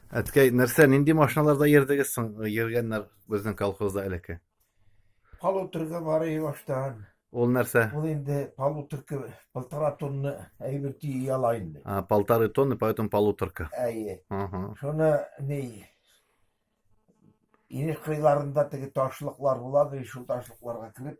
Әткәй, нәрсә, нинди машиналарда йөрдегез соң, йөргәннәр безнең колхозда элекке? Полуторка бар иде баштан. Ул нәрсә? Ул инде полуторка, полтора тонна әйбер тии ала инде. А, полторы тонны, поэтому полуторка. Әйе. Ага. Шуны ни инеш кыйларында теге ташлыклар була, шул ташлыкларга кереп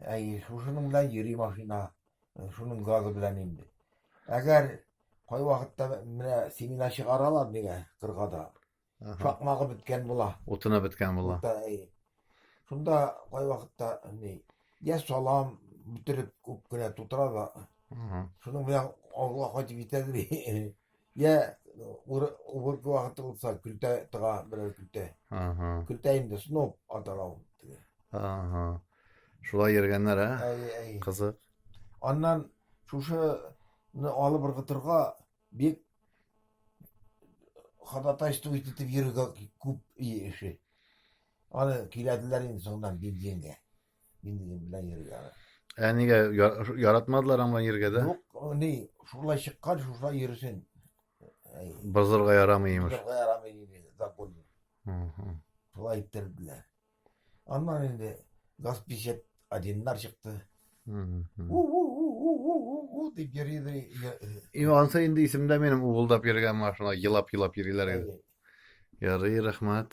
Әйе, шушының белән йөри машина, шуның газы белән инде. Әгәр кайвакытта менә семена чыгаралар нигә кыргада, шакмагы беткән була. Утына беткән була. Шунда кайвакытта ни, я салам бөтереп күп кенә тутыра да, шуның белән авылга кайтып җитәдер. Йә, ур- уборка вакыты булса, көлтә тыга берәр көлтә. Ага. Көлтә инде сноп атала ул. теге. Ага. Шулай йөргәннәр, ә? Әй, әй. Кызык. Аннан шушыны алып ыргытырга бик ходатайство итеп йөрергә күп и- эше. Аны киләделәр инде соңдан бензингә. Мин дидем белән йөрергә аны. Ә нигә яр- яратмадылар аң белән йөрергә дә? Юк, о, ни, шулай чыккан, шулай йөрсен. Әй, Бозырга ярамый имеш. Бозырга ярамый диде закон. Мгм. Шулай иттерделәр. Аннан инде газ 50 одиннар чыкты. Мгм. У-у-у-у-у-у-у дип йөри йөри. йө- И ансы инде исемдә минем угылдап йөргән машина, елап-елап йөриләр иде. Әй, Ярый, рәхмәт.